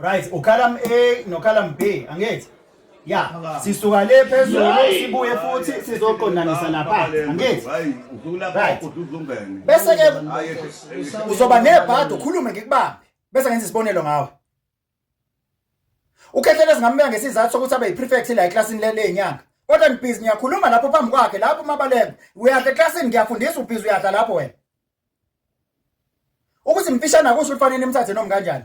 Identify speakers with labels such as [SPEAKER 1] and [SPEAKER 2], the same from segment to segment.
[SPEAKER 1] right ucolumn A nocolumn B angithi ya sisuka le phezulu sibuye futhi sizoqondanisa lapha angithi
[SPEAKER 2] right bese ke
[SPEAKER 1] uzoba nebhadi ukhulume ngikubambe bese ngenza isibonelo ngawe ukhehlele singameka ngesizathu sokuthi abe yiprefect la eclassini le lenyanga kodwa nibhizi ngiyakhuluma lapho phambi kwakhe lapho umabaleko uyadla eclassini ngiyafundisa ubhizi uyadla lapho wena ukuthi mfishane akusho ukuthi fanele nimthathe noma kanjani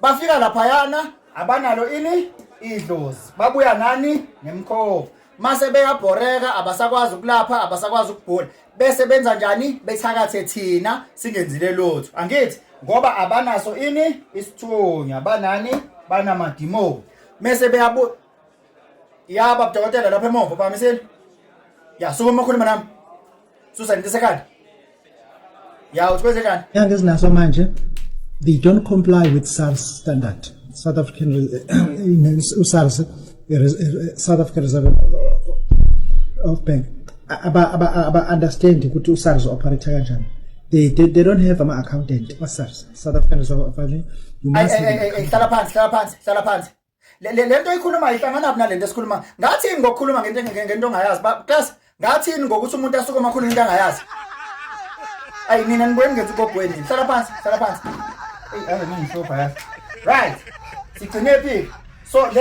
[SPEAKER 1] bafika laphayana abanalo ini idlozi babuya nani nemkhova mase beyabhoreka abasakwazi ukulapha abasakwazi ukugula bese benza njani bethakathe thina singenzile lutho angithi ngoba abanaso ini isithunya banani banamadimoni mese beyabu ya baba dokotela lapha emuva uphakamisile ya sukuma ukhuluma nami susa ngidisa ekhanda ya uthi kwenze njani Inyanga ezinaso manje
[SPEAKER 3] they don't comply with SARS standard. South African Re- in SARS eh, Res- eh, South African Reserve of Bank aba aba aba understand ukuthi uSARS operate kanjani. They, they they don't have ama accountant kwa SARS South African Reserve of Bank. You Ay, must ay, ay, ay, ay, hlala phansi hlala
[SPEAKER 1] phansi hlala phansi le lento oyikhulumayo ihlanganaphi nalento esikhuluma ngathini ngokukhuluma ngento ngento ongayazi class ngathini ngokuthi umuntu asuke omakhulu into angayazi ayi nina nibweni ngenza ubogweni hlala phansi hlala phansi eyi ave ningihloba yazi right sigcine phi so le